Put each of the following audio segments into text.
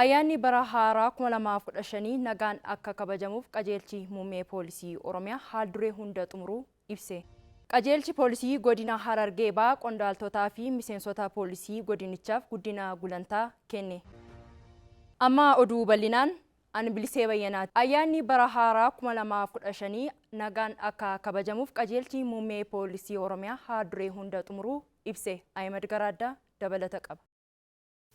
Ayyaanni bara haaraa 2015 nagaan akka kabajamuuf Qajeelchi Muummee Poolisii Oromiyaa haalduree hunda xumuruu ibse. Qajeelchi Poolisii Godina Harargee Bahaa qondaaltotaa fi miseensota poolisii godinichaaf guddina gulantaa kenne. Amma oduu bal'inaan. An Bilisee Bayyanaati. Ayyaanni bara haaraa 2015 nagaan akka kabajamuuf Qajeelchi Muummee Poolisii Oromiyaa haalduree hunda xumuruu ibse. Ahimad Garaaddaa dabalata qaba.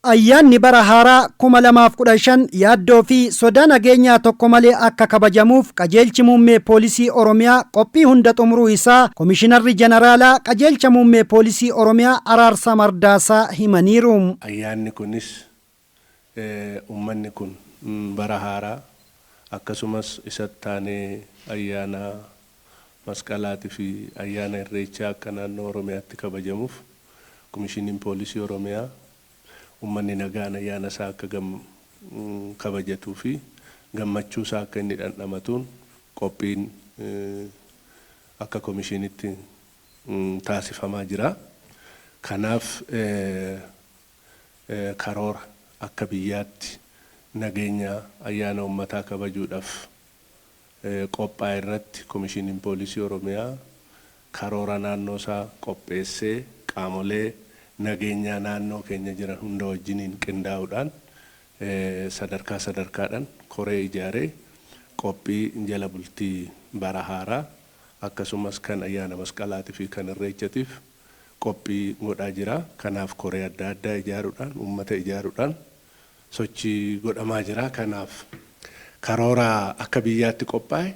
Ayyaanni bara haaraa 2015 yaaddoo fi sodaa nageenyaa tokko malee akka kabajamuuf Qajeelchi Muummee Poolisii Oromiyaa qophii hunda xumuruu isaa Komishinarri Janaraalaa Qajeelcha Muummee Poolisii Oromiyaa Araarsaa Mardaasaa himaniiru. Ayyaanni kunis ummanni kun bara haaraa akkasumas isattaanee ayyaana Masqalaati fi Ayyaana Irreechaa akka naannoo Oromiyaatti kabajamuuf Komishiniin Poolisii Oromiyaa ummanni nagaan ayyaana isaa akka kabajatuu fi gammachuu isaa akka inni dhandhamatuun qophiin akka Komishinitti taasifamaa jira. Kanaaf karoora akka biyyaatti nageenya ayyaana ummataa kabajuudhaf qophaa'e irratti Komishiiniin Poolisii Oromiyaa karoora naannoo isaa qopheessee qaamolee nageenyaa naannoo keenya jiran hunda wajjiniin qindaa'uudhaan sadarkaa sadarkaadhaan koree ijaaree qophii jala bultii bara haaraa akkasumas kan ayyaana Masqalaatii fi kan Irreechatiif qophii godhaa jira. Kanaaf koree adda addaa ijaaruudhaan, uummata ijaaruudhaan, sochii godhamaa jira. Kanaaf karoora akka biyyaatti qophaa'e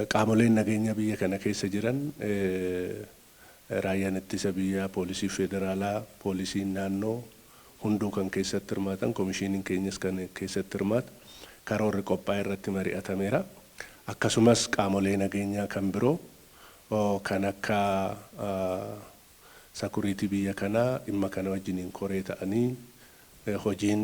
qaamoleen nageenyaa biyya kana keessa jiran Raayyaan Ittisa Biyyaa, Poolisiin Federaalaa, Poolisiin Naannoo hunduu kan keessatti hirmaatan, Komishiiniin keenyas kan keessatti hirmaatu karoorri qophaa'e irratti mari'atameera. Akkasumas qaamolee nageenyaa kan biroo kan akka. sakuriitii biyya kanaa dhimma kana wajjiniin koree ta'anii hojiin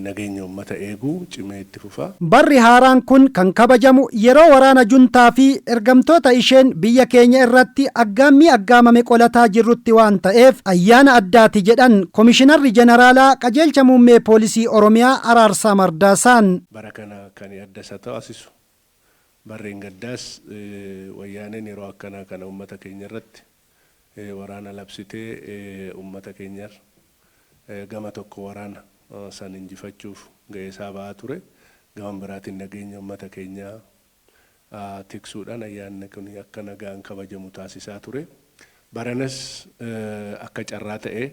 nageenya uummata eeguu cimee itti fufa. Barri haaraan kun kan kabajamu yeroo waraana juntaa fi ergamtoota isheen biyya keenya irratti aggaammii aggaamame qolataa jirrutti waan ta'eef ayyaana addaati jedhan Komishinarri Jeneraalaa Qajeelcha Muummee Poolisii Oromiyaa Araarsaa Mardaasaan. Bara kana kani adda isa taasisu Barreengaddaas wayyaaneen yeroo akkanaa kana ummata keenyarratti waraana labsitee ummata keenyar gama tokko waraana san injifachuuf ga'eesaa ba'aa ture. Gama biraatiin nageenya ummata keenyaa tiksuudhaan ayyaanni kun akka nagaan kabajamu taasisaa ture. Baranas akka carraa ta'ee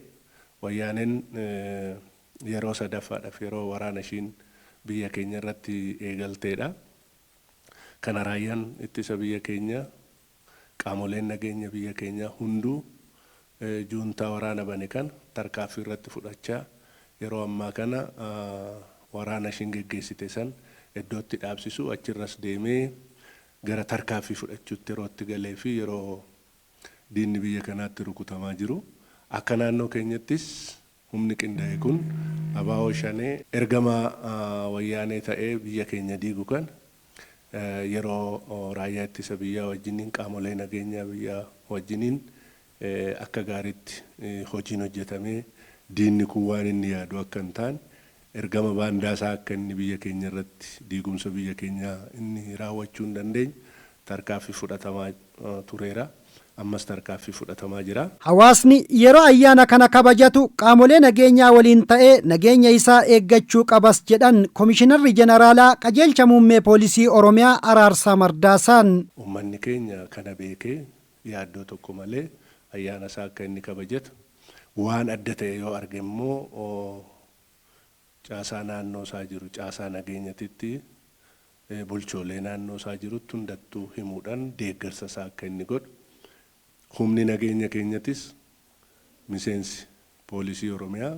wayyaaneen. yeroo sadaffaadhaf yeroo waraana ishiin biyya keenya irratti eegalteedha. Kana raayyaan ittisa biyya keenya, qaamoleen nageenya biyya keenyaa hunduu juuntaa waraana bane kana tarkaaffii irratti fudhachaa yeroo ammaa kana waraana ishiin geggeessite san eddootti dhaabsisuu achirras deemee gara tarkaaffii fudhachuutti yeroo itti galee fi yeroo diinni biyya kanaatti rukutamaa jiru akka naannoo keenyattis Humni qindaa'e kun Abaawoo Shanee ergamaa wayyaanee ta'ee biyya keenya diigu kan yeroo raayyaa ittisa biyyaa wajjiniin qaamolee nageenyaa biyyaa wajjiniin akka gaariitti hojiin hojjetamee diinni kun waan inni yaadu akka hin taane Ergama baandaa isaa akka inni biyya keenya irratti diigumsa biyya keenyaa inni raawwachuu hin dandeenye tarkaanfii fudhatamaa tureera. Ammas tarkaanfii fudhatamaa jira. Hawaasni yeroo ayyaana kana kabajatu qaamolee nageenyaa waliin ta'ee nageenya isaa eeggachuu qabas jedhan Komishinarri Jeneraalaa Qajeelcha Muummee Poolisii Oromiyaa Araarsaa Mardaasaan. Ummanni keenya kana beekee yaaddoo tokko malee ayyaana isaa akka inni kabajatu, waan adda ta'e yoo arge immoo caasaa naannoo isaa jiru, caasaa nageenyatitti bulchoolee naannoo isaa jirutti hundattuu himuudhan deeggarsa isaa akka inni godhu, humni nageenya keenyatis miseensi poolisii Oromiyaa,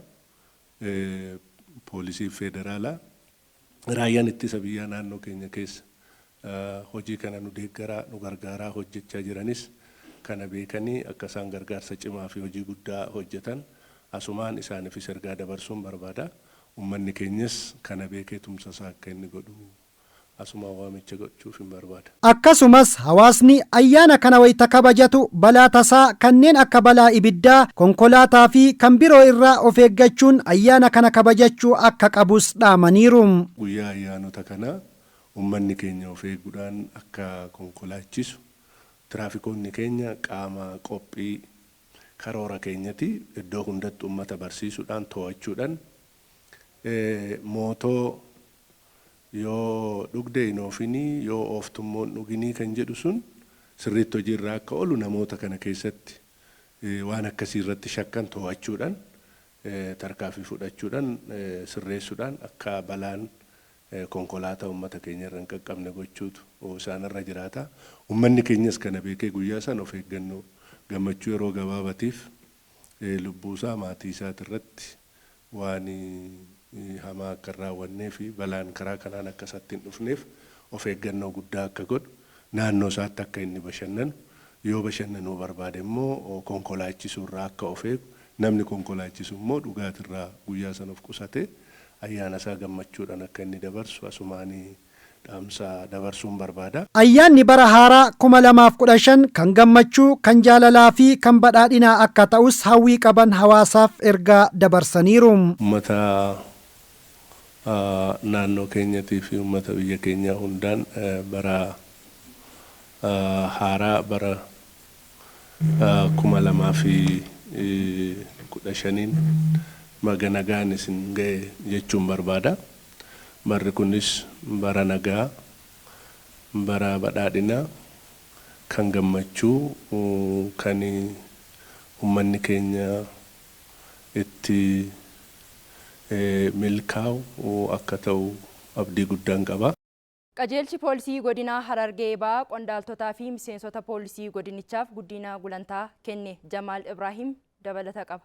poolisii feederaalaa, Raayyaan Ittisa Biyyaa naannoo keenya keessa hojii kana nu deeggaraa, nu gargaaraa hojjechaa jiranis kana beekanii akka isaan gargaarsa cimaa fi hojii guddaa hojjetan asumaan isaanifis ergaa dabarsuun barbaada. Ummanni keenyas kana beekee tumsa isaa akka inni godhu asumaan waamicha godhchuufin barbaada. Akkasumas hawaasni ayyaana kana wayita kabajatu balaa tasaa kanneen akka balaa ibiddaa, konkolaataa fi kan biroo irraa of eeggachuun ayyaana kana kabajachuu akka qabus dhaamaniiru. Guyyaa ayyaanota kanaa ummanni keenya of eeguudhaan akka konkolaachisu tiraafikoonni keenya qaama qophii karoora keenyati. Iddoo hundatti ummata barsiisuudhaan, too'achuudhan, mootoo. yoo dhugde hin oofinii, yoo ooftummoo hin dhuginii kan jedhu sun sirriitti hojii irra akka oolu namoota kana keessatti waan akkasii irratti shakkan too'achuudhan, tarkaafii fudhachuudhan, sirreessudhaan akka balaan konkolaataa ummata keenya irra hin qaqqabne gochuutu isaan irra jiraata. Ummanni keenyas kana beekee guyyaa sana of eeggannoo gammachuu yeroo gabaabatiif lubbuusaa, maatiisaatirratti waan hamaa akka hin raawwanneefi balaan karaa kanaan akka isatti hin dhufneef of eeggannoo guddaa akka godhu, naannoosaatti akka inni bashannanu, yoo bashannanuu barbaade immoo konkolaachisuurraa akka of eegu, namni konkolaachisu immoo dhugaatirraa guyyaa sana of qusatee ayyaanasaa gammachuudhaan akka inni dabarsu asumaan dhaamsa dabarsuun barbaada. Ayyaanni bara haaraa 2015 kan gammachuu, kan jaalalaa fi kan badhaadhinaa akka ta'us hawwii qaban hawaasaaf ergaa dabarsaniiru. Ummata naannoo keenyatii fi ummata biyya keenyaa hundaan bara haaraa bara 2015n baga nagaan isin ga'e jechuun barbaada. Barri kunis bara nagaa, bara badhaadhinaa, kan gammachuu, kan ummanni keenya itti milkaa'u akka ta'u abdii guddaan qaba. Qajeelchi Poolisii Godinaa Harargee Bahaa qondaaltotaa fi miseensota poolisii godinichaaf guddiina gulantaa kenne. Jamaal Ibraahim dabalata qaba.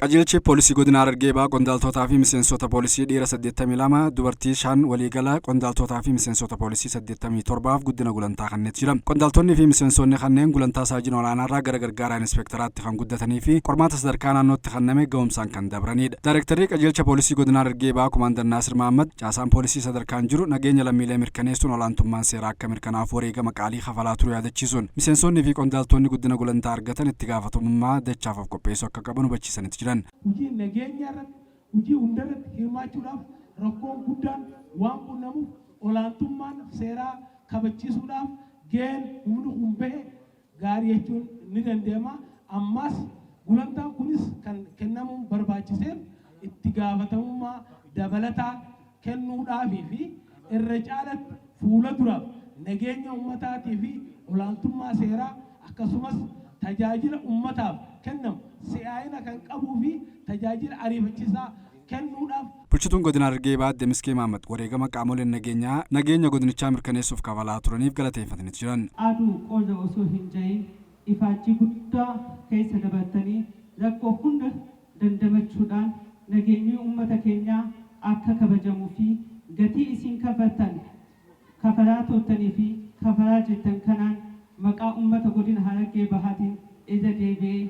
Qajeelchi Poolisii Godina Harargee Bahaa qondaaltotaa fi miseensota poolisii dhiira 82, dubartii 5 waliigala qondaaltotaa fi miseensota poolisii 87f guddina gulantaa kannet jira. Qondaaltonni fi miseensoonni kanneen gulantaa Saajin Olaanaarraa gara Gargaaraa Inispeektaraatti kan guddatanii fi qormaata sadarkaa naannootti kanname gahumsaan kan dabraniidha. Daayrektarrii Qajeelcha Poolisii Godina Harargee Bahaa Komaandar Naasir Mahaammad, Caasaan poolisii sadarkaan jiru nageenya lammiilee mirkaneessuun olaantummaan seeraa akka mirkanaa'uuf wareegama qaalii kafalaa turuu yaadachiisuun, miseensonni fi qondaaltoonni guddina gulantaa argatan itti gaafatamummaa dachaaf of qopheessuu akka qaban hubachiisaniit jiran. Hojii nageenyaa irratti hojii hundarratti hirmaachuudhaaf rakkoon guddaan waan qunnamuuf olaantummaan seeraa kabachiisuudhaaf gaheen humni kun bahe gaarii jechuun ni danda'ama. Ammaas gulantaan kunis kan kennamuun barbaachiseef itti gaafatamummaa dabalataa kennuudhaafii fi irra caalatti fuula duraaf nageenya ummataatii fi olaantummaa seeraa akkasumas tajaajila ummataaf kennamu si'aayina kan qabuu fi tajaajila ariifachiisaa kennuudhaaf. Bulchituun Godina Harargee Bahaa Aadde Miskee Mahaammad wareegama qaamoleen nageenyaa nageenya godinichaa mirkaneessuuf kafalaa turaniif galateeffataniit jiran. Aduu qorra osoo hin ca'iin ifaajjii guddaa keessa dabartanii rakkoo hunda dandamachuudhaan nageenyii uummata keenyaa akka kabajamu fi gatii isiin kafartan, kafaraa turtanii fi kafaraa jirtan kanaan maqaa uummata Godina Harargee Bahaatiin irra deebi'ee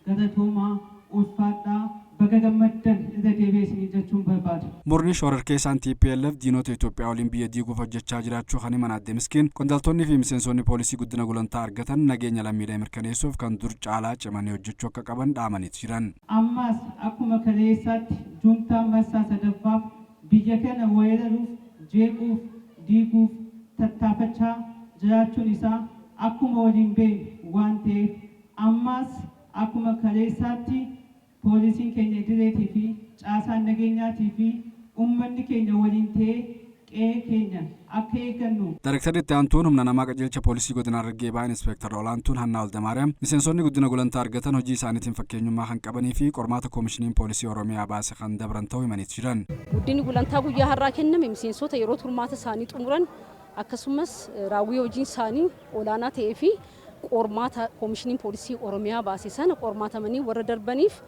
Galatoomaa, ulfaadhaa, baga gammaddan irra deebi'ee isiniin jechuun barbaada. Murni shoorarkeessaan tplf diinota Itoophiyaa waliin biyya diiguuf hojjechaa jiraachuu kan himan Aadde Miskiin, qondaltoonnii fi miseensoonni poolisii guddina gulantaa argatan nageenya lammiilee mirkaneessuuf kan dur caalaa cimanii hojjechuu akka qaban dhaamaniit jiran. Ammaas akkuma kaleessaatti juuntaan marsaa sadaffaaf biyya kana weeraruuf, jeequuf, diiguuf tattaafachaa jiraachuun isaa akkuma waliin beeknu waan ta'eef, Ammaas akkuma kaleessaatti poolisiin keenya idileetii fi caasaan nageenyaatii fi ummanni keenya waliin ta'ee qe'ee keenya akka eeggannu. Daayrektarri Itti Aantuun Humna Namaa Qajeelcha Poolisii Godina Harargee Bahaa Inispeektar Olaantuun Hannaa Waldamaariyaam, miseensonni guddina gulantaa argatan hojii isaaniitiin fakkeenyummaa kan qabanii fi qormaata Koomishiniin Poolisii Oromiyaa baase kan dabran ta'uu himaniit jiran. Guddinni gulantaa guyyaa har'aa kenname miseensota yeroo turmaata isaanii xumuran akkasumas raawwii hojiin isaanii olaanaa ta'ee fi qormaata Komishiniin Poolisii Oromiyaa baase sana qormaatamanii warra darbaniif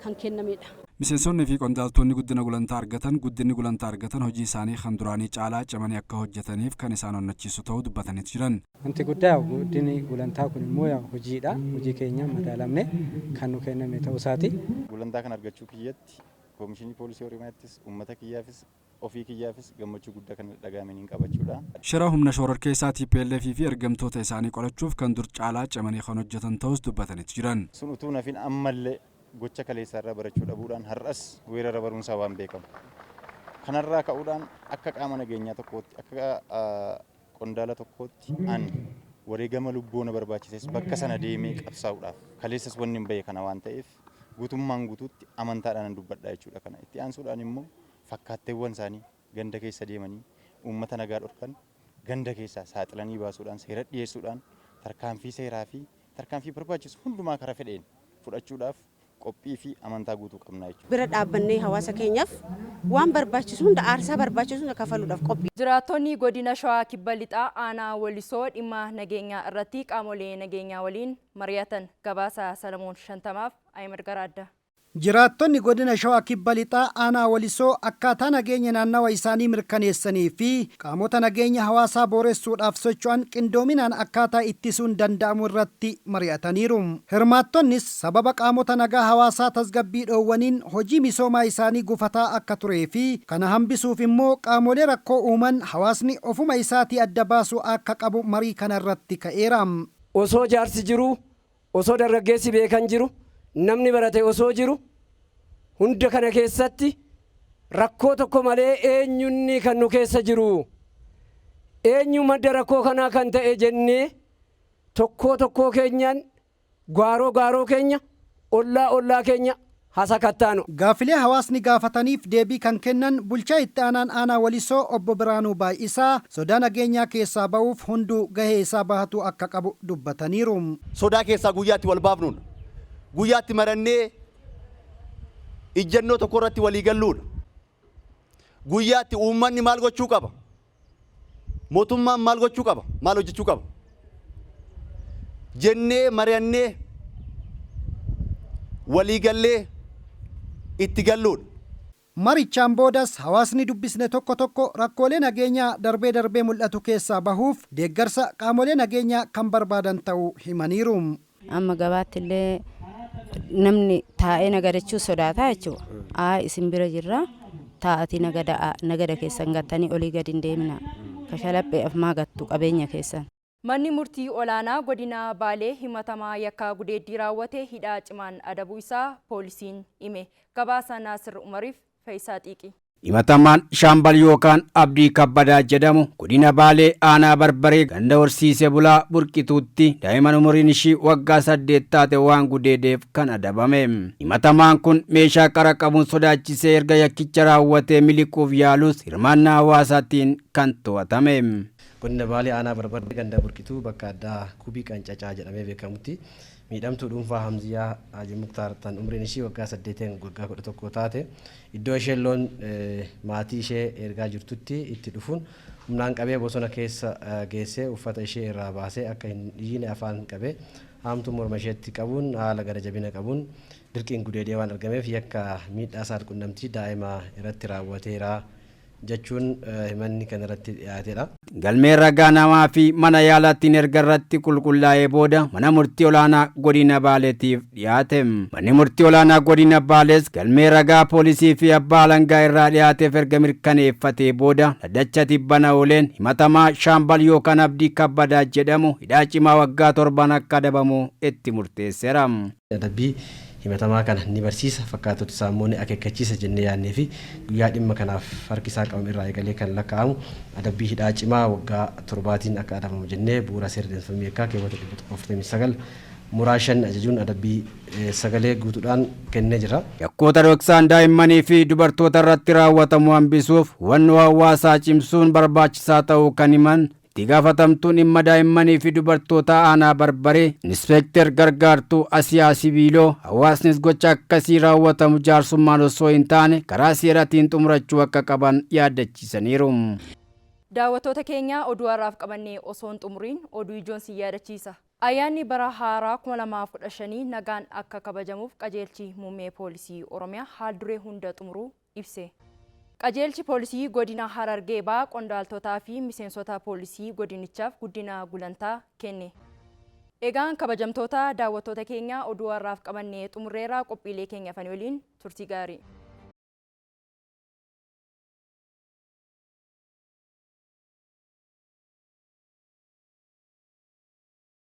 kan kennamedha. Miseensonni fi qondaaltoonni guddina gulantaa argatan guddinni gulantaa argatan hojii isaanii kan duraanii caalaa cimanii akka hojjetaniif kan isaan onnachiisu ta'uu dubbataniit jiran. Wanti guddaa yaa'u guddinni gulantaa kun immoo yaa'u hojiidha. Hojii keenyaan madaalamnee kan nu kenname ta'uu isaati. Gulantaa kana argachuu kiyyatti Komishinii Poolisii Oromiyaattis, uummata kiyyaafis Ofii kiyyaafis gammachuu guddaa kan natti dhaga'ame niin qaba jechuu dha. Shira humna shoororkeessaa tplf fi ergamtoota isaanii qolachuuf kan dur caalaa cimanii kan hojjetan ta'uus dubbataniiti jiran. Sun utuu hin hafin ammallee gocha kaleessaa irraa barachuu dhabuudhaan har'as weerara baruun isaa waan beekamu. Kanarraa ka'uudhaan akka qaama nageenyaa tokkootti, akka qondaala tokkootti an wareegama lubbuu na barbaachises bakka sana deemee qabsaa'uudhaaf kaleessas wannin bahe kana waan ta'eef, Guutummaan guutuutti amantaadhaanan dubbadha jechuudha kana. Itti aansuudhaan immoo fakkaatteewwan isaanii ganda keessa deemanii uummata nagaa dhorkan ganda keessaa saaxilanii baasuudhaan seeratti dhiyeessuudhaan tarkaanfii seeraa fi tarkaanfii barbaachisu hundumaa kara fedheen fudhachuudhaaf qophii fi amantaa guutuu qabna jechuudha. Bira dhaabbannee hawaasa keenyaaf waan barbaachisu hunda aarsaa barbaachisu hunda kafaluudhaaf qophii. Jiraattonni Godina Shawaa Kibba Lixaa Aanaa Walisoo dhimma nageenyaa irratti qaamolee nageenyaa waliin. mari'atan. Gabaasa Salamoon Shantamaaf Ahimad Garaaddaa. Jiraattonni Godina Shawaa Kibba Lixaa Aanaa Walisoo akkaataa nageenya naannawa isaanii mirkaneessanii fi qaamota nageenya hawaasaa booressuudhaaf socho'an qindoominaan akkaataa ittisuun danda'amu irratti mari'ataniiru. Hirmaattonnis sababa qaamota nagaa hawaasaa tasgabbii dhoowwaniin hojii misoomaa isaanii gufataa akka turee fi kana hambisuuf immoo qaamolee rakkoo uuman hawaasni ofuma isaatii adda baasuu aakka qabu marii kana irratti ka'eera. Osoo jaarsi jiruu, osoo dargaggeessi beekan jiru, namni barate osoo jiru, hunda kana keessatti rakkoo tokko malee eenyu inni kan nu keessa jiru? Eenyu madda rakkoo kanaa kan ta'e jennee tokkoo tokkoo keenyaan gaaroo gaaroo keenya, ollaa ollaa keenya, ha sakattaanu. Gaaffilee hawaasni gaafataniif deebii kan kennan Bulchaa Itti Aanaan Aanaa Walisoo Obbo Birhaanuu Baay'isaa, sodaa nageenyaa keessaa ba'uuf hunduu gahee isaa bahatuu akka qabu dubbataniiru. Sodaa keessaa guyyaa itti walbaafnuudha. Guyyaa itti marannee ijjannoo tokkorratti waliigalluudha. Guyyaa itti uummanni maal gochuu qaba? Mootummaan maal gochuu qaba? Maal hojjechuu qaba? Jennee mari'annee walii gallee itti galluudha. Marichaan boodas hawaasni dubbisne tokko tokko rakkoolee nageenyaa darbee darbee mul'atu keessaa bahuuf deeggarsa qaamolee nageenyaa kan barbaadan ta'uu himaniiru. Amma gabaatti illee namni taa'ee nagadachuu sodaataa jechuudha. Aa isin bira jirra taa'atii nagada'a nagada keessan gattanii olii gadi hin deemina. Kashalaphee afmaa gattu qabeenya keessan. Manni Murtii Olaanaa Godina Baalee himatamaa yakka gudeeddii raawwate hidhaa cimaan adabuu isaa poolisiin hime. Gabaasa Naasir Umariif. Fayisaa Xiiqii. Himatamaan Shaambal yookaan Abdii Kabbadaa jedhamu Godina Baalee Aanaa Barbaree ganda Horsiise Bulaa Burqituutti daa'iman umuriin ishii waggaa 8 taate waan gudeedeef kan adabame. Himatamaan kun meeshaa qara qabuun sodaachisee erga yakkicha raawwatee miliquuf yaalus hirmaannaa hawaasaatiin kan to'atame. Godina Baalee Aanaa Barbaree ganda Burqituu bakka addaa Kubii Qancacaa jedhamee beekamutti Miidhamtuu dhuunfaa Hamziyaa Haaji Muktaar tan umriin ishii waggaa saddeetii hanga waggaa kudha tokkoo taate iddoo isheen loon maatii ishee eergaa jirtutti itti dhufuun humnaan qabee bosona keessa geessee uffata ishee irraa baasee akka hin iyyine afaan qabee haamtuu morma isheetti qabuun haala gara jabina qabuun dirqiin gudeedee waan argameef yakka miidhaa saal-qunnamtii daa'ima irratti raawwateera jechuun himanni kan irratti dhiyaatedha. Galmeen ragaa namaa fi mana yaalaattiin erga irratti qulqullaa'ee booda Mana Murtii Olaanaa Godina Baaleetiif dhiyaate. Manni Murtii Olaanaa Godina Baalees galmee ragaa poolisii fi abbaa alangaa irraa dhiyaateef erga mirkaneeffatee booda dhaddacha tibbana ooleen himatamaa Shaambal Yookaan Abdii Kabbadaa jedhamu hidhaa cimaa waggaa torban akka adabamu itti murteesseera. Adabbii himatamaa kana ni barsiisa, fakkaatoti isaa immoo ni akeekkachiisa jennee yaadnee fi guyyaa dhimma kanaaf harki isaa qabame irraa eegalee kan lakkaa'amu adabbii hidhaa cimaa waggaa torbaatiin akka adabamu jennee bu'uura seera adeemsifamuu yakkaa keewwata 149 muraa 5 ajajuun adabbii sagalee guutuudhaan kennee jira. Yakkoota dhoksaan daa'immanii fi dubartoota irratti raawwatamu hambisuuf hubannoo hawaasaa cimsuun barbaachisaa ta'uu kan himan Itti gaafatamtuun dhimma daa'immanii fi dubartootaa aanaa Barbaree Inispeekter Gargaartuu Asiyaa Sibiiloo hawaasnis gocha akkasii raawwatamu jaarsummaan osoo hin taane karaa seeratiin xumurachuu akka qaban yaaddachiisaniiru. Daawwattoota keenya oduu har'aaf qabanne osoo hin xumuriin oduu ijoon sin yaadachiisa. Ayyaanni bara haaraa 2015 nagaan akka kabajamuuf qajeelchi Muummee Poolisii Oromiyaa haal duree hunda xumuruu ibse. Qajeelchi Poolisii Godina Harargee Bahaa qondaaltotaa fi miseensota poolisii godinichaaf guddina gulantaa kenne. Egaan kabajamtoota daawwattoota keenya oduu har'aaf qabanne xumurreerra qophiilee keenya hafanii waliin turtii gaarii.